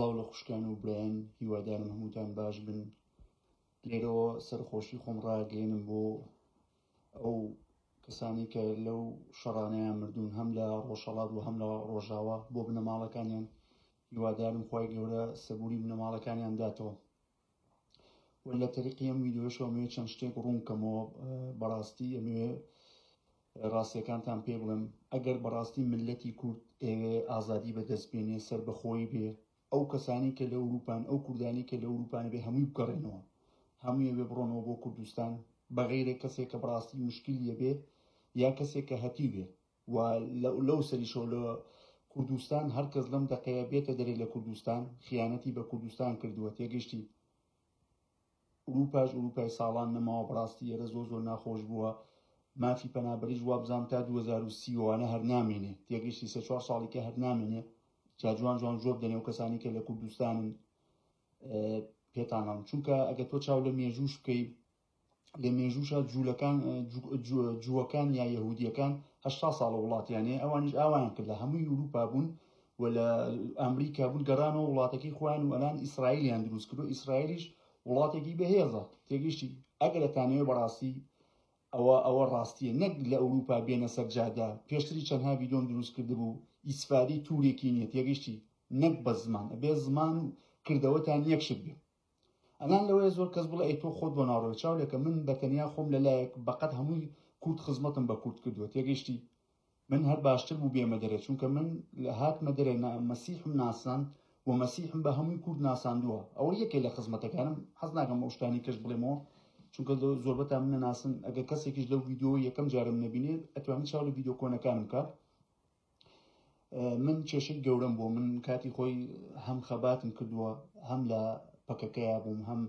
سڵاو لە خوشکان و برایان هیوادارم هەمووتان باش بن لێرەوە سەرخۆشی خۆم ڕاگەێنم بۆ ئەو کەسانی کە لەو شەڕانەیان مردوون هەم لە ڕۆژهڵات و هەم لە ڕۆژاوە بۆ بنەماڵەکانیان هیوادارم خی گەورە سەبووری بنەماڵەکانیان داتەوە و لە تەریقی ئەم ویددیۆشەوە مێ چەند شتێک ڕوون کەمەوە بەڕاستی ئەمێ ڕاستیەکانتان پێ بڵێم ئەگەر بەڕاستی ملەتی کورد ئێوێ ئازادی بەدەست بێنێ سەر بەخۆی بێ ئەو کەسانی کە لە ئەوروپان ئەو کوردانی کە لە ئەوروپان بێ هەمووی بگەڕێنەوە هەموویە بێ بڕۆنەوە بۆ کوردستان بەغیرێک کەسێک کە بڕاستی مشکلیە بێ یا کەسێک کە هەتی بێ و لەو سەریشەوە لە کوردستان هەر کەس لەم دەقەیە بێتە دەرێ لە کوردستان خیانەتی بە کوردستان کردووە تێگەشتی ئوروپاش ئوروپای ساڵان نەماوە بەڕاستی ئێرە زۆ زۆر ناخۆش بووە مافی پەنابەریش وابزانام تا 2030 وانە هەر نامێنێ تێگەشتی سێ چوار ساڵی کە هەر نامێنێ جا جوان جوان جۆب دەنێ و کەسانی کە لە کوردستانن پێتانڵم چونکە ئەگە تۆ چاو لە مێژوش بکەی لە مێژووشە جوولەکان جووەکان یا یهودیەکان هه ساڵە وڵاتیانێ ئەوانش ئاوایان کرد لە هەمووی ئوروپا بوون و لە ئەمریکا بوون گەڕانەوە وڵاتەکەی خۆیان و ئەلان ئیسرائیلیان دروست کرد و ئیسرائیلیش وڵاتێکی بەهێزە تێگەشتی ئەگەرەتانەوەی بەڕاستی ئەوە ئەوە ڕاستیە نەک لە ئەوروپا بێنە سەرجادا پێشتری چەندها ویدۆم دروست کرد بوو ئیسفادی تورێکی نیە تێگەشتی نەک بە زمان ئەبێ زمان و کردەوەتان یەکشت بێ ئەلان لەوەیە زۆر کەس بڵێ ئەی تۆ خۆت بۆ ناڕۆی چاولێکە من بە تەنیا خۆم لە لایەک بەقەت هەمووی کورد خزمەتم بە کورد کردووە تێگەیشتی من هەر باشتر بوو بێمە دەرێ چونکە من لە هاتمە دەرێ نە مەسیحم ناسان و مەسیحم بە هەمووی کورد ناساندووە ئەوە یەکێ لە خزمەتەکانم حەز ناکەم ئەو شتانی کەش بڵێمەوە چونکە زۆربەتان منە ناسن ئەگەر کەسێکیش لەو ڤیددیو یەکەم جارم نبینێت ئەتوانی چاو لە ڤیددیو کۆنەکانم کە من کێشەی گەورەم بۆ من کاتی خۆی هەم خەباتم کردووە هەم لە پەکەکەیا بووم هەم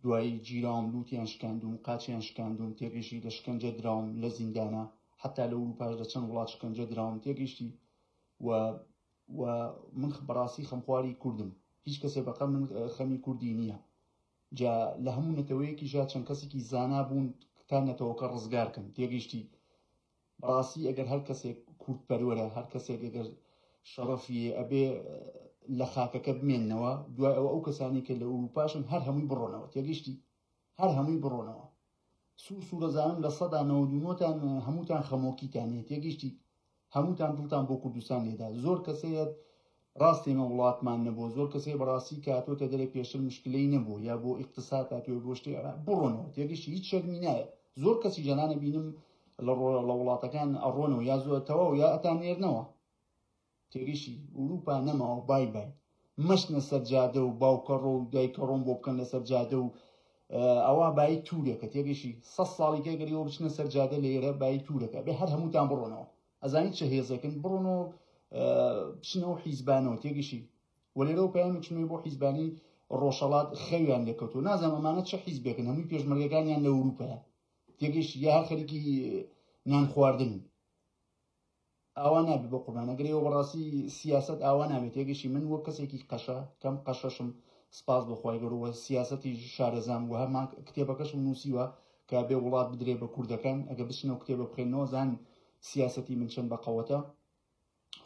دوایی گیراوم لووتیان شکاندوم قاچیان شکاندوم تێگەشتی لە شکەنجە دراوم لە زیندانە حتا لە وروپاش لە چەند وڵات شکەنجە دراوم تێگەشتی و و من بەڕاستی خەمخواری کوردم هیچ کەسێ بەقە من خەمی کوردی نییە جا لە هەموو نەتەوەیەکی ژا چەند کەسێکی زانا بوون تا نەتەوەکە ڕزگارکەن تێگەشتی بەڕاستی ئەگەر هەر کەسێک کورد پەروەرە هەر کەسێک ئەگەر شەڕەفیە ئەبێ لە خاکەکە بمێنەوە دوای ئەوە ئەو کەسانی کە لە ئوروپاشن هەر هەمووی بڕۆنەوە تێگەشتی هەر هەمووی بڕۆنەوە سوور سوورەزانم لە سەدا نەوەدونۆتان هەمووتان خەمۆکیتانێت تێگەشتی هەمووتان دڵتان بۆ کوردستان لێدا زۆر کەسەیەت ڕاستە ئێمە وڵاتمان نەبووە زۆر کەس هەیە بەڕاستی کە هاتۆتە دەرێ پێشتر مشکلەی نەبوو یا بۆ ئیقتساد هاتووە بۆ شتێ بڕۆنەوە تێگەشتی هیچ شەرمی نایە زۆر کەسی جەنانە بینم لە ڕۆ لە وڵاتەکان ئەڕۆنەوە یا زۆر تەواو یا ئەتا نێرنەوە تێگەشتی ئوروپا نەماوە بای بای مەشنە سەر جادە و باوکە ڕۆ و دایکە ڕۆم بۆ بکەن لەسەر جادە و ئەوە بای تورێکە تێگەشی سە ساڵیکە گەریەوە بچنە سەر جادە لە ئێرە بای تورەکە بێ هەر هەمووتان بڕۆنەوە ئەزانی چ هێزێکن بڕۆن و بچنەوە حیزبانەوە تێگەشی وەلێرەوە پەیامێک چنەوەی بۆ حیزبانی ڕۆژەڵات خەویان لێکەوتو نازانم ئەمانە چه حیزبێکن هەمووی پێشمەرگەکانیان لە وروپەیە تێگەش یا هەر خەریکی نان خواردن ئاوا نابێت بۆ قوربانەگەرەوە بەڕاستی سیاست ئاوا نابێت تێگەشی من وە کەسێکی قەشە کەم قەشەشم سپاس بۆخوای گەروە سیاستی شارەزام و هەمان کتێبەکەشم نووسیوە کە بێ وڵات بدرێ بە کوردەکان ئەگە بچنە و کتێبە بخێنەوە زان سیاسەتی من چەند بە قەوەتە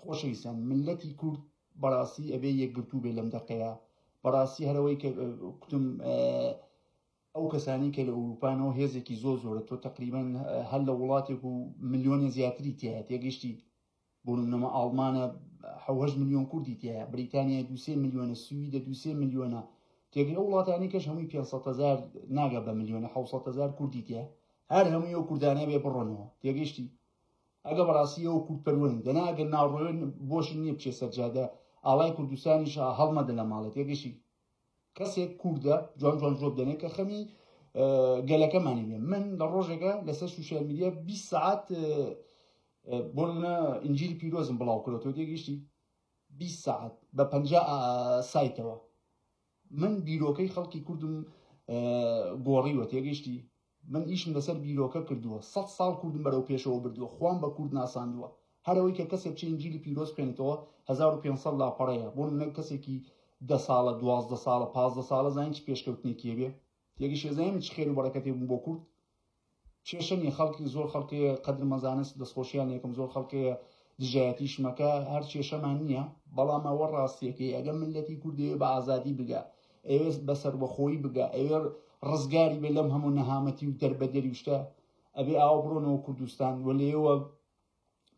خۆشەویستان ملەتی کورد بەڕاستی ئەبێ یەکگرتوو بێ لەم دەقەیە بەڕاستی هەرەوەی کە کوتم ئەو کەسانی کە لە ئەوروپانەوە هێزێکی زۆ زۆرە تۆ تقریبان هەر لە وڵاتێک و ملیۆنێ زیاتری تایە تێگەشتی بۆ نمونەمە ئاڵمانە حوهش ملیۆن کوردی تایە بریتانیا دوسێ ملیۆنە سویدە دوسێ ملیۆنە تێگەی ئەو وڵاتانی کەش هەمووی 500هزار ناگە بە ملیۆنە 600هزار کوردی تێ هەر هەمووی و کوردانە بێ بڕۆنەوە تێگەشتی ئەگە بەڕاستیەوە کورد پەروەن دەناگە ناڕۆێن بۆش نیە بچێ سەرجادە ئاڵای کوردستانیش هەڵمەدە لە ماڵێت تێگەشتی کەسێک کوردە جوان جوان جواب دەنێ کە خەمی گەلەکەمانی بێ من لە ڕۆژێکە لەسەر سوسیال میدیا 20 ساعت بۆ منە ئنجلی پیرۆزم بڵاو کرێتەوە تێگەیشتی 20 ساعت بە پ سایتەوە من بیرۆکەی خەڵکی کوردم گۆڕیوە تێگەیشتی من ئیشم لەسەر بیرۆکە کردووە، سەد ساڵ کوردم بەرەو پێشەوە بردووە، خوام بە کورد ناساندووە. هەر ئەوەی کە کەسێک چ ئینجیلی پیرۆز بخوێنێتەوە هەزار و پێنج سەد لاپەڕەیە، بۆ نموونە کەسێکی دە ساڵە، دوازدە ساڵە، پازدە ساڵە زانیت چ پێشکەوتنێکی هەبێ؟ یەکیش ئێزانی من چ خێر و بەڕەکەتێ بووم بۆ کورد؟ کێشە نییە، خەڵکی زۆر خەڵک هەیە قەدرمە زانست دەستخۆشییان لێ ئەکەم، زۆر خەڵک هەیە دژایەتیشم ئەکا، هەر کێشەمان نییە، بەڵام ئەوە ڕاستییەکەی ئەگەر میللەتی کورد دەیەوێ بە ئازادی بگا، ئەیەوێ بە سەربەخۆیی بگا ئەوێ ڕزگاری بێ لەم هەموو نەهامەتی و دەربەدەری و شتە ئەبێ ئاوا بڕۆنەوە کوردستان و لێوە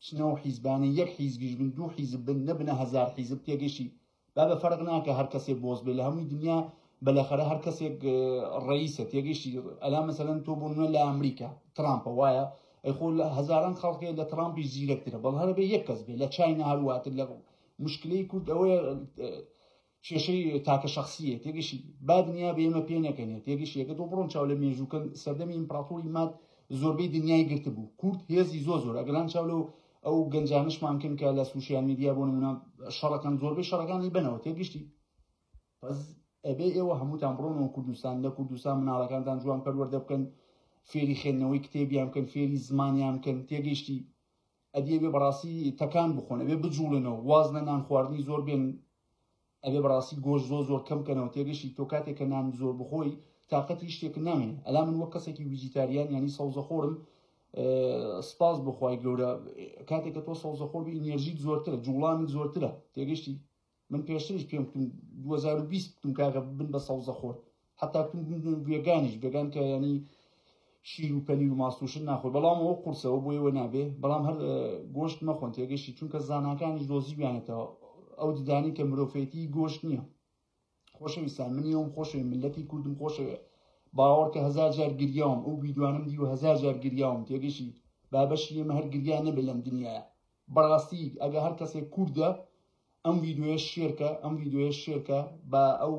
بچنەوە حیزبانە یەک حیزبیش بن دوو حیزب بن نەبنە هەزار حیزب تێگەشی با بە فەرق ناکە هەر کەسێ بۆز بێ لە هەمووی دنیا بەلەخەرە هەر کەسێک ڕئیسە تێگەشتی ئەلا مەسەلەن تۆ بۆ نوێ لە ئەمریکا ترامپە وایە ئەی خۆ لە هەزاران خەڵکێ لە ترامپی زیرەکترە بەڵ هەرە بێ یەک کەس بێ لە چاینا هەرواتر لە مشکلەی کورد ئەوەیە کێشەی تاکە شخصیەت یەکیشی با دنیا بە ئێمە پێ نەکەنێت یەکیش یەکە تۆ بڕۆن چاو لە مێژووکەن سەردەمی ئیمپراتوری ماد زۆربەی دنیای گرتبوو کورد هێزی زۆ زۆر ئەگەران چاو لەو ئەو گەنجانشمان کەن کە لە سوسیال میدیا بۆ نمونە شەڕەکەن زۆربەی شەڕەکانی بنەوە تێگشتی پس ئەبێ ئێوە هەمووتان بڕۆنەوە کوردستان لە کوردستان مناڵەکانتان جوان پەروەەردە بکەن فێری خوێندنەوەی کتێبیان بکەن فێری زمانیان بکەن تێگەیشتی ئەدی ئەبێ بەڕاستی تەکان بخۆن ئەبێ بجوڵێنەوە واز لە نان خواردنی زۆر بێن ئەبێ بەڕاستی گۆش زۆر زۆر کەم کەنەوە تێگەشی تۆ کاتێک کە نان زۆر بخۆی تااقەتی شتێک نامێ ئەلا من وە کەسێکی ویجیتاریان ینی سەوزە خۆرم سپاس بخوای گەورە کاتێککە تۆ سەوزە خۆر بی نێژیت زۆرترە جوڵانت زۆرترە تێگەشتی من پێشتریش پێم کتون 2020 کتون کاکە بن بە سەوزە خۆر حتا کتون وێگانیش بێگان کە ینی شیر و پەنیر و ماسوشن ناخۆی بەڵام ئەو قورسەوە بۆ ئێوە نابێ بەڵام هەر گۆشت مەخۆن تێگەشتی چونکە زانکانیش دۆزیویانێتەوە ئەو ددانی کە مرۆڤێتی گۆشت نییە خۆشەویستان منی ئەوم خۆشەوێ ملەتی کوردم خۆشەوێ باوەڕ کە هزار جار گریاوم ئەو بیدوانم دیوە هزار جار گریاوم تێگەشی بابەشی ئێمە هەر گریان نەبێ لەم دنیاە بەڕاستی ئەگە هەر کەسێک کوردە ئەم ڤیدۆیە شێرکە ئەم ڤیدۆیە شێرکە با ئەو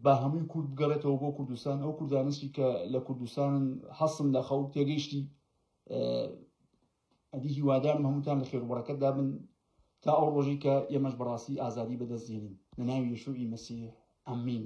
با هەمووی کورد بگەڕێتەوە بۆ کوردستان ئەو کوردانشی کە لە کوردستانن حەسم لە خەو تێگەیشتی ئەدی هیوادارم هەمووتان لە خێروبڕەکەت دابن تا ئەو ڕۆژی کە ئێمەش بەڕاستی ئازادی بەدەستێنین لە ناوی یشوعی مەسیح ئەمین